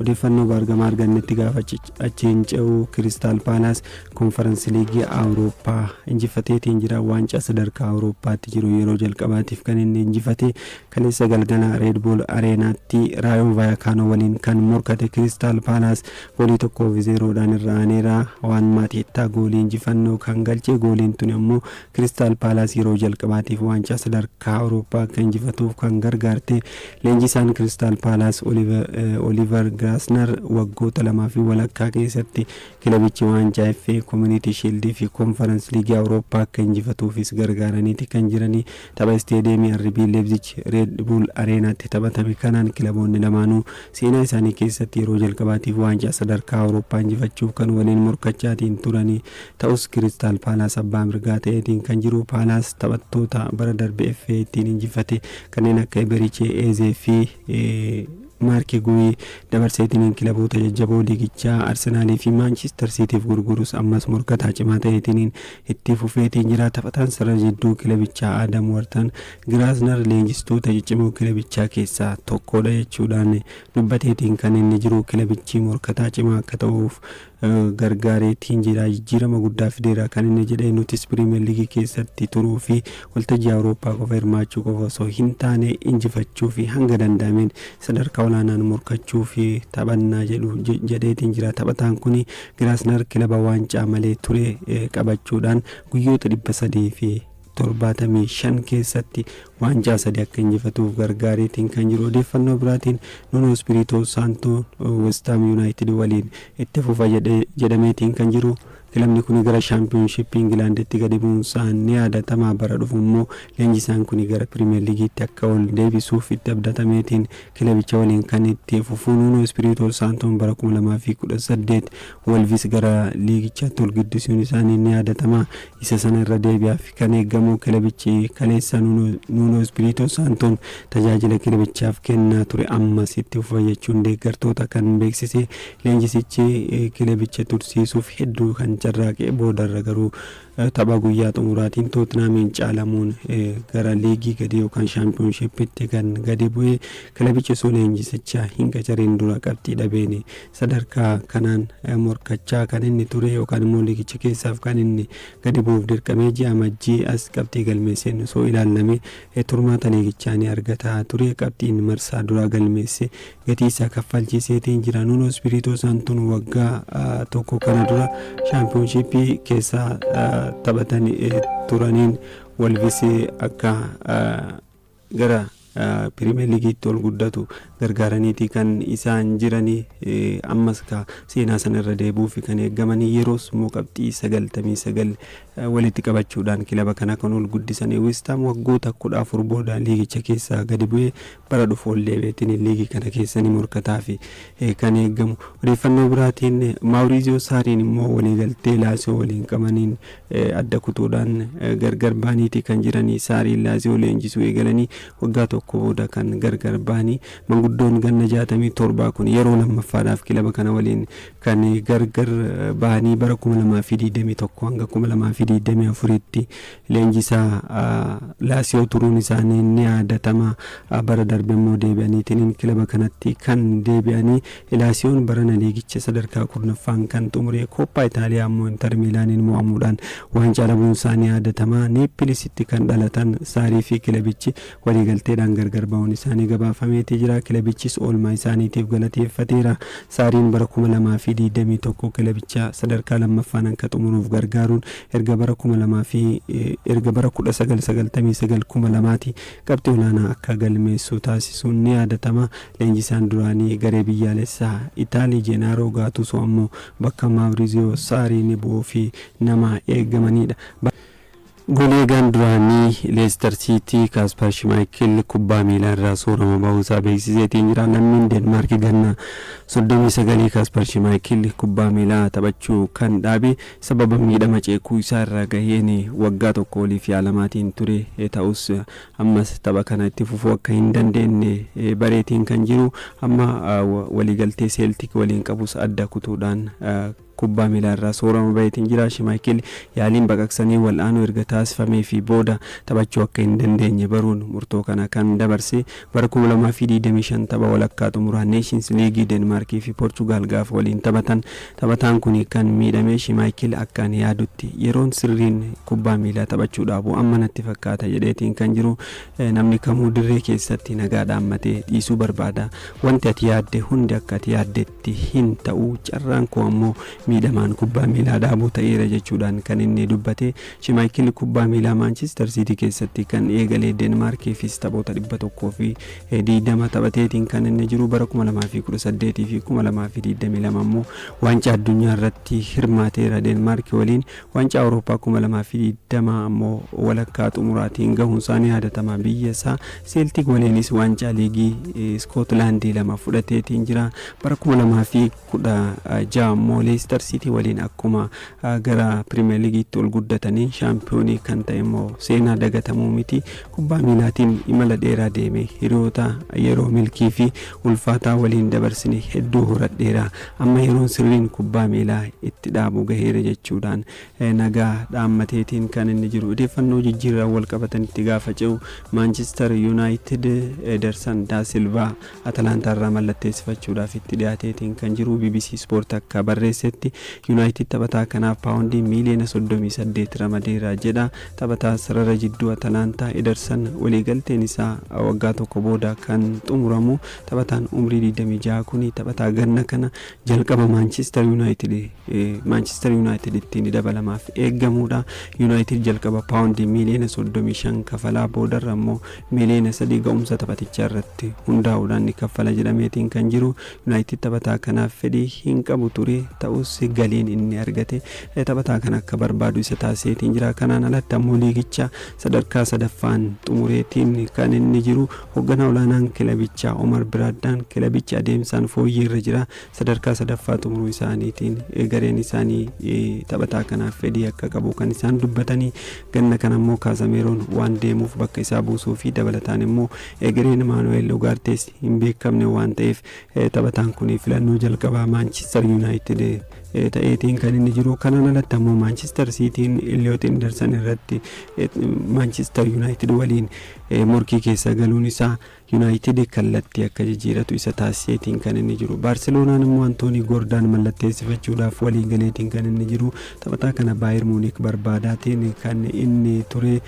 Odeeffannoo baargamaa argannetti gaafa achiin ce'u Kiristaal Paalaas Konfaransi Liigii Awurooppaa injifateetiin jira. Waancaa sadarkaa Awurooppaatti jiru yeroo jalqabaatiif kan inni injifate kaleessa galgala Reed Buul Areenaatti Raayoo Vaayakaanoo waliin kan morkate Kiristaal Paalaas goolii tokkoof zeeroodhaan irra aaneera. Waan Maatiittaa goolii injifannoo kan galche gooliin tuni ammoo Kiristaal Paalaas yeroo jalqabaatiif waancaa sadarkaa Awurooppaa akka injifatuuf kan gargaarte leenjisaan Kiristaal Paalaas Oliivar Giraasnar waggoota lamaa fi walakkaa keessatti kilabichi waancaa FA, Koominiitii Shiildii fi Koonfarans Liigii Awurooppaa akka injifatuufis gargaaraniiti kan jiranii. Tapha Isteediyeemii RB Leebzich Reed Buul Areenaatti taphatame kanaan kilaboonni lamaanuu seenaa isaanii keessatti yeroo jalqabaatiif waancaa sadarkaa Awurooppaa injifachuuf kan waliin morkachaatiin turanii Ta'us Kiristaal Paalaas abbaa mirgaa ta'eetiin kan jiru. Paalaas taphattoota bara darbe FA ittiin injifate kanneen akka Eberichee Eezee fi Maarki Guuyi dabarseetiin kilaboota jajjaboo liigichaa Arsenaalii fi Maanchister Siitiif gurgurus ammas morkataa cimaa ta'eetiin itti fufeetiin jira. Taphataan sarara jidduu kilabichaa Aadam Wartan Giraasnar leenjistoota ciccimoo kilabichaa keessaa tokkodha jechuudhaan dubbateetiin kan inni jiru kilabichi morkataa cimaa akka ta'uuf gargaaree tiin jira. Jijjiirama guddaa fideera kan inni jedhe nutis Piriimeer Liigii keessatti turuu fi waltajjii Awurooppaa qofa hirmaachuu qofa osoo hin taane injifachuu fi hanga danda'ameen sadarkaa olaanaan morkachuu fi taphannaa jedhu jedheetiin jira. Taphataan kun Giraasnar kilaba waancaa malee ture qabachuudhaan guyyoota dhibba sadii fi 75 keessatti waancaa sadi akka injifatuuf gargaareetiin kan jiru. Odeeffannoo biraatiin Nuno Espirito Santo West Ham United waliin itti fufa jedhe- jedhameetiin kan jiru. Kilabni kuni gara Shaampiyoonshippii Ingilaanditti gadi bu'uunsaa ni yaadatama. Bara dhufu immoo leenjisaan kuni gara Piriimeer Liigiitti akka ol deebisuuf itti abdatameetiin kilabicha waliin kan itti fufu Nuno Espirito Santoon bara 2018 Wolvis gara liigichaatti ol guddisuun isaanii ni yaadatama. Isa sana irra deebi'aaf kan eegamu kilabichi kaleessa Nuunoo Ispiriitoo Saantoon tajaajila kilabichaaf kennaa ture ammas itti fufa jechuun deeggartoota kan beeksise leenjisichi kilabicha tursiisuuf hedduu kan carraaqe boodarra garuu tapha guyyaa xumuraatiin Tootinaamiin caalamuun gara liigii gadii yookaan shaampiyoonshiippitti kan gadi bu'e kilabichi osoo leenjisicha hin qacariin dura qabxii dhabeen Sadarkaa kanaan morkachaa kan inni ture yookaan immoo liigicha keessaaf kan inni gadi bu'uuf dirqamee ji'a Amajjii as qabxii galmeesseen osoo ilaallame turmaata liigichaa ni argata ture. Qabxiin marsaa duraa galmeesse gatii isaa kaffalchiiseetiin jira. Nuunoo Ispiriitoo Saantoon waggaa tokko kana dura shaampiyoonshiippii keessa taphatan turaniin Wolvis akka gara Piriimeer Liigiitti ol guddatu gargaaraniiti kan isaan jirani. Ammas kaa seenaa sana irra deebi'uufi kan eegamani. Yeroos immoo qabxii 99 walitti qabachuudhaan kilaba kana kan ol guddisani. Westaam waggoota 14 booda liigicha keessaa gadi bu'ee bara dhufu ol deebi'eetini liigii kana keessa ni morkataafi kan eegamu. Odeeffannoo biraatiin Maawuriiziyoo Saariin immoo waliigaltee Laasiyoo waliin qabaniin adda kutuudhaan gargar bahaniiti kan jiranii. Saariin Laaziyoo leenjisuu eegalanii waggaa tokko booda kan gargar bahanii. Manguddoon ganna 67 kun yeroo lammaffaadhaaf kilaba kana waliin kan gargar bahanii bara 2021 hanga 2024tti leenjisaa Laasiyoo turuun isaanii ni yaadatama. Bara darbe immoo deebi'aniitiin kilaba kanatti kan deebi'anii Ilaasioon barana liigicha sadarkaa 10ffaan kan xumure, Kooppaa Itaaliyaa ammoo Intar Miilaaniin mo'amuudhaan waancaa dhabuunsaa ni yaadatama. Neeppilisitti kan dhalatan Saarii fi kilabichi waliigalteedhaan gargar ba'uun isaanii gabaafameeti jira. Kilabichis oolmaa isaaniitiif galateeffateera. Saariin bara 2021 kilabicha sadarkaa 2ffaan akka xumuruuf gargaaruun erga bara 2000 fi erga bara 1999, 2000ti qabxii olaanaa akka galmeessu taasisuun ni yaadatama. Leenjisaan duraanii garee biyyaalessaa Itaalii Jeenaaroo Gaatuusoo ammoo bakka Maawriiziyoo Saarii ni bu'uu fi nama eegamanidha. Goolieegaan duraanii Leestar Siitii Kaaspar Shimaayikil kubbaa miilaa irraa soorama bahuu isaa beeksiseetiin jira. Lammiin Deenmaarki ganna 39 Kaaspar Shimaayikil kubbaa miilaa taphachuu kan dhaabe sababa miidhama ceekuu isaa irra gaheen waggaa tokko oliif yaalamaatiin ture ta'us Ammas tapha kana itti fufuu akka hin dandeenne bareetiin kan jiru. Amma waliigaltee Seeltik waliin qabus adda kutuudhaan kubbaa miilaa irraa soorama baheetiin jira. Shimaayikil yaaliin baqaqsanii wal'aanuu erga taasifameefii booda taphachuu akka hin dandeenye baruun murtoo kana kan dabarse. Bara kuma lamaa fi digdamii shan tapha walakkaa xumuraa Neeshiins Liigii Deenmaarkii fi Poorchugaal gaafa waliin taphatan Taphataan kuni kan miidhame Shimaayikil akkaan yaadutti yeroon sirriin kubbaa miilaa taphachuu dhaabu amma natti fakkaata jedheetiin kan jiru namni kamuu dirree keessatti nagaa dhaammatee dhiisuu barbaada. Wanti ati yaadde hundi akka ati yaaddetti hin ta'u carraan koo ammoo miidhamaan kubbaa miilaa dhaabuu ta'eera jechuudhaan kan inni dubbate. Shimaayikil kubbaa miilaa Maanchister Siitii keessatti kan eegale Deenmaarkiifis taphoota 100 fi Heedii dama taphateetiin kan inni jiru bara 2018 fi 2022 immoo waancaa addunyaa irratti hirmaateera Deenmaarki waliin waancaa Awurooppaa 2020 ammoo walakkaa xumuraatiin gahuun isaanii yaadatama biyya isaa Seeltiik waliinis waancaa liigii Iskootilaandii lama fudhateetiin jira bara 2000 16 immoo Leestar Siitii waliin akkuma gara Piriimeer Liigiitti ol guddataniin shaampiyoonii kan ta'e immoo seenaa dagatamuu miti. Kubbaa miilaatiin imala dheeraa deeme. Hiriyoota yeroo milkii fi ulfaataa waliin dabarsine hedduu horadheera. Amma yeroon sirriin kubbaa miilaa itti dhaabu gaheera jechuudhaan nagaa dhaammateetiin kan inni jiru. Odeeffannoo jijjiirraan wal qabatanitti gaafa ce'u Maanchistar Yuunaayitid Edersan Daasilvaa Atalaantaa irraa mallatteessifachuudhaaf itti dhiyaateetiin kan jiru bbc Sport akka barreessetti Yunaayitid taphataa kanaaf paawondii miiliyoona 38 ramadeera jedha. Taphataa sarara jidduu Atalaantaa Edersan waliigalteen isaa waggaa tokko booda kan xumuramu. Taphataan umrii 26 kuni taphataa ganna kana jalqaba Maanchister Yunaayitid Maanchister Yunaayitiditti ni dabalamaaf eegamuudha. Yunaayitid jalqaba paawondii miiliyoona 35 kafalaa boodarra immoo Miliyoona sadii ga'umsa taphatichaa irratti hundaa'uudhaan ni kaffala jedhameetiin kan jiru Yunaayitid taphataa kanaaf fedhii hin qabu ture. Ta'us galiin inni argate taphataa kana akka barbaadu isa taasiseetiin jira. Kanaan alatti ammoo liigicha sadarkaa sadaffaan xumureetiin kan inni jiru. Hogganaa olaanaan kilabichaa Omar Biraaddaan kilabichi adeemsaan fooyyee irra jira. Sadarkaa sadaffaa xumuruu isaaniitiin gareen isaanii taphataa kanaaf fedhii akka qabu kan isaan dubbatanii Ganna kana immoo Kaasameeroon waan deemuuf bakka isaa buusuu fi dabalataan immoo egereen Maanu'eel Ugaartees hin beekamne waan ta'eef taphataan kun filannoo jalqabaa Maanchistar Yuunaayitid ta'eetiin kan inni jiru. Kanaan alatti ammoo Maanchistar Siitiin Illiyoot Indarsan irratti Maanchistar Yuunaayitid waliin morkii keessa galuun isaa Yunaayitid kallattii akka jijiiratu isa taasiseetiin kan inni jiru. Baarseloonaan immoo Antoonii Goordaan mallatteessifachuudhaaf waliigaleetiin kan inni jiru. Taphataa kana Baayir Muunik barbaadaatiin kan inni ture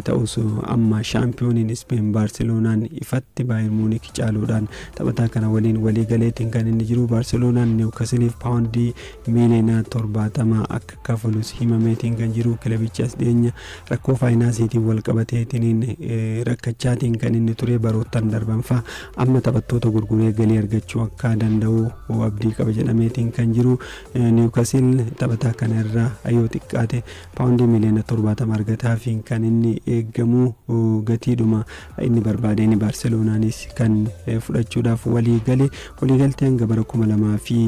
ta'us amma shaampiyooniin Ispeen Baarseloonaan ifatti Baayir Muunik caaluudhaan taphataa kana waliin waliigaleetiin kan inni jiru. Baarseloonaan Niwkasiliif paawundii miiliyoona 70 akka kafalus himameetiin kan jiru kilabichi as dhiyeenya Rakkoo faayinaasiitiin walqabateetiniin rakkachaatiin kan inni ture baroottan darban fa'a amma taphattoota gurguree galii argachuu akka danda'u abdii qaba jedhameetiin kan jiru niwukasil taphataa kana irraa yoo xiqqaate paawundii miliyoona torbaatama argataafiin kan inni eegamu gatiidhuma inni barbaadeen baarseloonaanis kan fudhachuudhaaf walii gale waliigaltee hanga bara kuma lamaa fi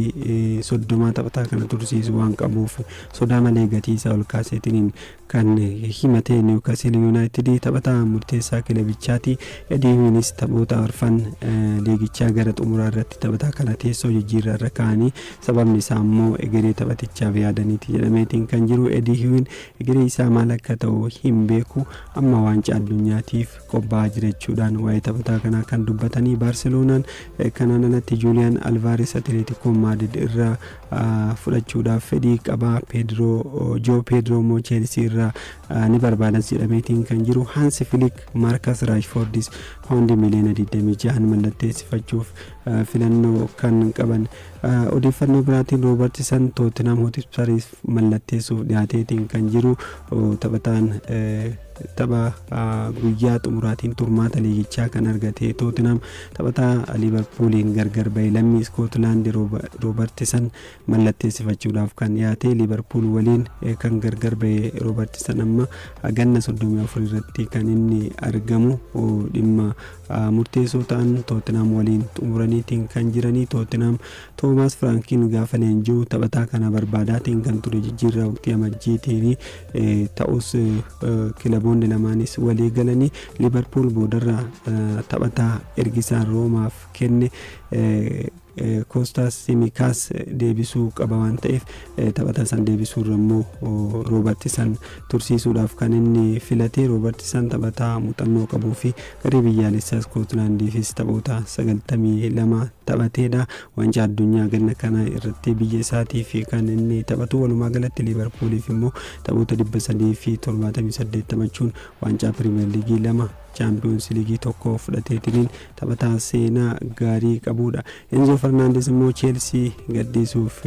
soddomaa taphataa kana tursiisu waan qabuuf sodaa malee gatii isaa ol kaaseetiniin Kan himate Niwukasil Yuunaayitidi taphataa murteessaa kilabichaati. Eediinwiinis taphoota arfan liigichaa gara xumuraa irratti taphataa kana teessoo jijjiirraa irra kaa'anii sababni isaa immoo egeree taphatichaaf yaadaniiti jedhameetiin kan jiru Eediinwiin egeree isaa maal akka ta'u hin beeku amma waancaa addunyaatiif qophaa'aa jira jechuudhaan waa'ee taphataa kanaa kan dubbatanii Baarseloonaan kanaan alatti Juuliyaan Alvaares Atileetikoo Maadid irraa fudhachuudhaaf fedhii qaba. Peedroo Joo Peedroo immoo Cheelsii irraa ni barbaadas jedhameetiin kan jiru. Hansi Filik Maarkas Raashfoordis paawundii miliyoona 26 mallatteessifachuuf filannoo kan qaban. Odeeffannoo biraatiin Roobartisan Tootinam Hotispariif mallatteessuuf dhiyaateetiin kan jiru taphataan Tapha guyyaa xumuraatiin turmaata liigichaa kan argate Tootinhaam taphataa Liivarpuuliin gargar bahe lammii Iskootilaandi Roobartisan mallatteessifachuudhaaf kan dhiyaate Liivarpuul waliin kan gargar bahe Roobartisan amma ganna 34 irratti kan inni argamu dhimma murteessoo ta'an Tootinhaam waliin xumuraniitiin kan jiranii Tootinhaam Toomaas Firaankiin gaafa leenji'u taphataa kana barbaadaatiin kan ture jijjiirraa waqtii amajjiitiin Ta'us kilaboonni lamaanis walii galanii Liivarpuul boodarra taphataa ergisaan Roomaaf kenne Koostaas Simikaas deebisuu qaba waan ta'eef taphataa san deebisuurra immoo Roobert san tursiisuudhaaf kan inni filate Roobert san taphataa muuxannoo qabuu fi garee biyyaalessaa Iskootlaandiifis taphoota 92 taphateedha. Waancaa Addunyaa ganna kanaa irratti biyya isaatiif kan inni taphatu walumaa galatti Liivarpuuliif immoo taphoota 378 taphachuun waancaa Piriimeer Liigii lama Chaampiyoonsi Liigii tokko fudhateetiniin taphataa seenaa gaarii qabuudha. Enzo Fernaandes immoo Cheelsii gadhiisuuf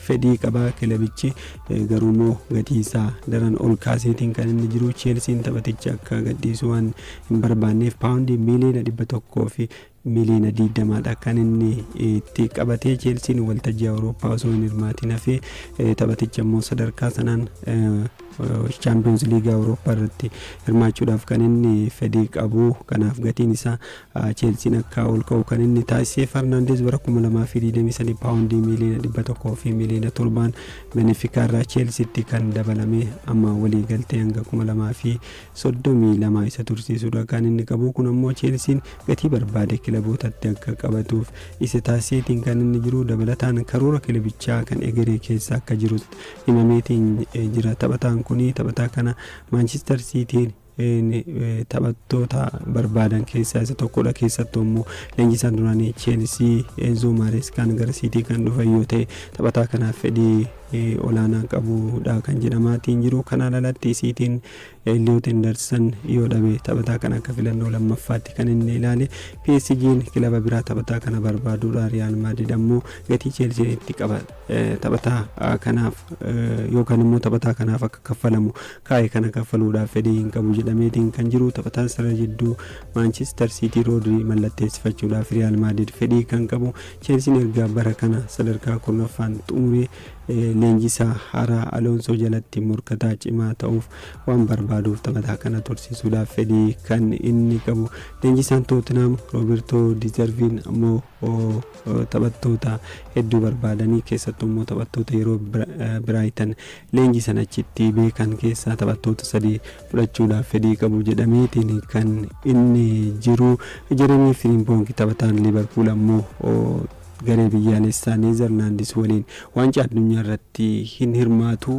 fedhii qaba kilabichi garuu immoo gatii isaa daran ol kaaseetiin kan inni jiru Cheelsiin taphaticha akka gadhiisu waan hin barbaanneef paawundii miiliyoona dhibba tokkoo fi Miliyoona 20 dha kan inni itti qabate. Cheelsiin waltajjii Awurooppaa osoo hin hirmaatiin hafee taphaticha immoo sadarkaa sanaan Chaampiyoons Liigii Awurooppaa irratti hirmaachuudhaaf kan inni fedhii qabu. Kanaaf gatiin isaa Cheelsiin akka ol ka'u kan inni taasise Farnaandeez bara 2023 paawundii miliyoona 100 fi miliyoona 7 Benefikaa irraa Cheelsiitti kan dabalame amma walii galtee hanga 32 isa tursiisuudha kan inni qabu. Kun ammoo Cheelsiin gatii barbaade kilabootatti akka qabatuuf isa taasiseetiin kan inni jiru dabalataan karoora kilabichaa kan egeree keessa akka jirus himameetiin eh, jira. Taphataan kun taphataa kana Maanchister Siitiin eh, taphattoota barbaadan keessaa isa tokkodha. Keessattuu immoo leenjisaan duraanii Cheelsii Enzo Maareeskaan gara Siitii kan dhufan yoo ta'e taphataa kanaaf fedhii eh, olaanaa qabudha kan jedhamaatiin jiru. Kanaan alatti Siitiin Elliot Henderson yoo dhabe taphataa kana akka filannoo lammaffaatti kan inni ilaale. PSG'n kilaba biraa taphataa kana barbaaduudha. Riyaal Maadrid ammoo gatii Cheelsiin itti qaba taphataa kanaaf yookaan immoo taphataa kanaaf akka kaffalamu kaa'e kana kaffaluudhaaf fedhii hin qabu jedhameetiin kan jiru. Taphataan sarara jidduu Maanchister Siitii Roodrii mallatteessifachuudhaaf Riyaal Maadrid fedhii kan qabu. Cheelsiin erga bara kana sadarkaa kurnaffaan xumuree leenjisaa haaraa Aloonsoo jalatti morkataa cimaa ta'uuf waan barbaaduuf taphataa kana tursiisuudhaaf fedhii kan inni qabu. Leenjisaan Tootinaam Roobertoo Dizarviin ammoo taphattoota hedduu barbaadanii keessattuu immoo taphattoota yeroo Biraayitan leenjisan achitti beekan keessaa taphattoota sadii fudhachuudhaaf fedhii qabu jedhameetiin kan inni jiru. Jeremii Firiimpoongi taphataan Liivarpuul ammoo Garee biyyaalessaa Neezarlaandis waliin Waancaa Addunyaarratti hin hirmaatu.